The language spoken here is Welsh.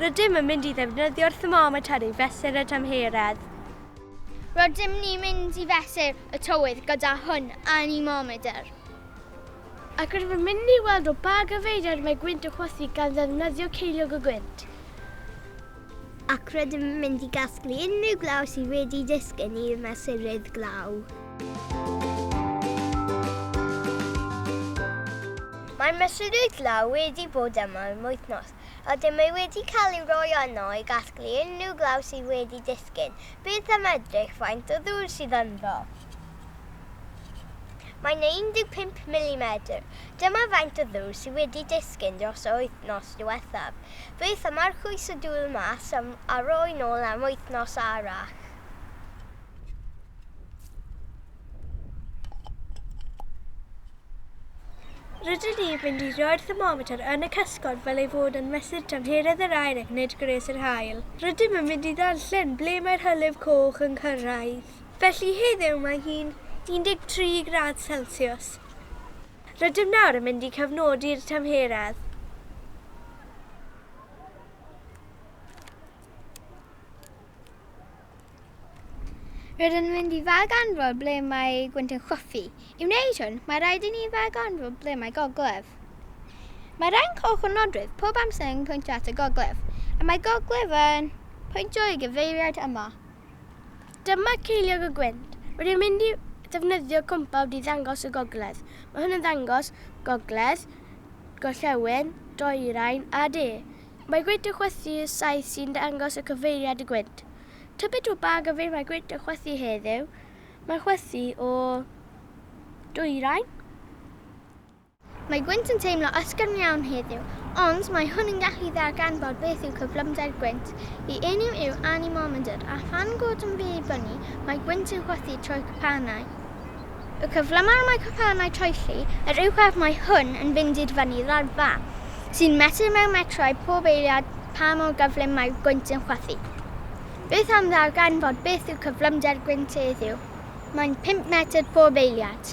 Rydym yn mynd i ddefnyddio'r thermometr i fesur y tymheredd. Rydym ni'n mynd i fesur y tywydd gyda hwn, anemometer. Ac rydym yn mynd i weld o ba gyfeiriad mae gwynt yn chwythu gan ddefnyddio ceiliog y gwynt. Ac rydym yn mynd i gasglu unrhyw glaw sydd wedi disgyn i'r mesurydd glaw. Mae mesurydd glaw wedi bod yma am wythnos, Ydym ei wedi cael ei roi yno i gasglu unrhyw glaw sydd wedi disgyn, byth am edrych faint o ddŵr sydd ynddo. Mae yna 15 milimedr. Dyma faint o ddŵr sydd wedi disgyn dros yr wythnos diwethaf. Byth am archwys y dŵr mas a roi nôl am wythnos arall. Rydyn ni fynd i roi'r thermometr yn y cysgod fel ei fod yn mesur tymheredd yr aer ac nid gwres yr haul. Rydym yn mynd i ddarllen ble mae'r hylif coch yn cyrraedd. Felly heddiw mae hi'n 13 gradd celsiws. Rydym nawr yn mynd i cofnodi'r tymheredd. Rydyn yn mynd i ddarganfod ble mae gwynt yn chwythu. I wneud hwn, mae rhaid i ni ddarganfod ble mae gogledd. Mae rhai'n coch o nodwedd pob amser yn pwyntio at y gogledd, a mae gogledd yn pwyntio i gyfeiriad yma. Dyma ceiliog y gwynt. Rydyn yn mynd i ddefnyddio compawd i ddangos y gogledd. Mae hwn yn ddangos gogledd, gorllewin, dwyrain a de. Mae gwynt yn chwythu y saeth sy'n dangos y cyfeiriad y gwynt. Tybed o ba gyfeir mae gwynt yn chwythu heddiw? Mae'n chwythu o dwyrain. Mae gwynt yn teimlo ysgafn iawn heddiw, ond mae hwn yn gallu darganfod beth yw cyflymder gwynt. Y enw yw anemometer, a phan god yn fy bynnu, mae gwynt yn chwythu trwy'r cwpanau. Y cyflymaf mae cwpanau troelli yr uwchradd mae hwn yn fynd i'r fyny ddalfa, sy'n metr mewn metrau pob eiliad pa mor gyflym mae'r gwynt yn chwythu. Beth am ddarganfod beth yw cyflymder gwynt heddiw? Mae'n pump metr pob eiliad.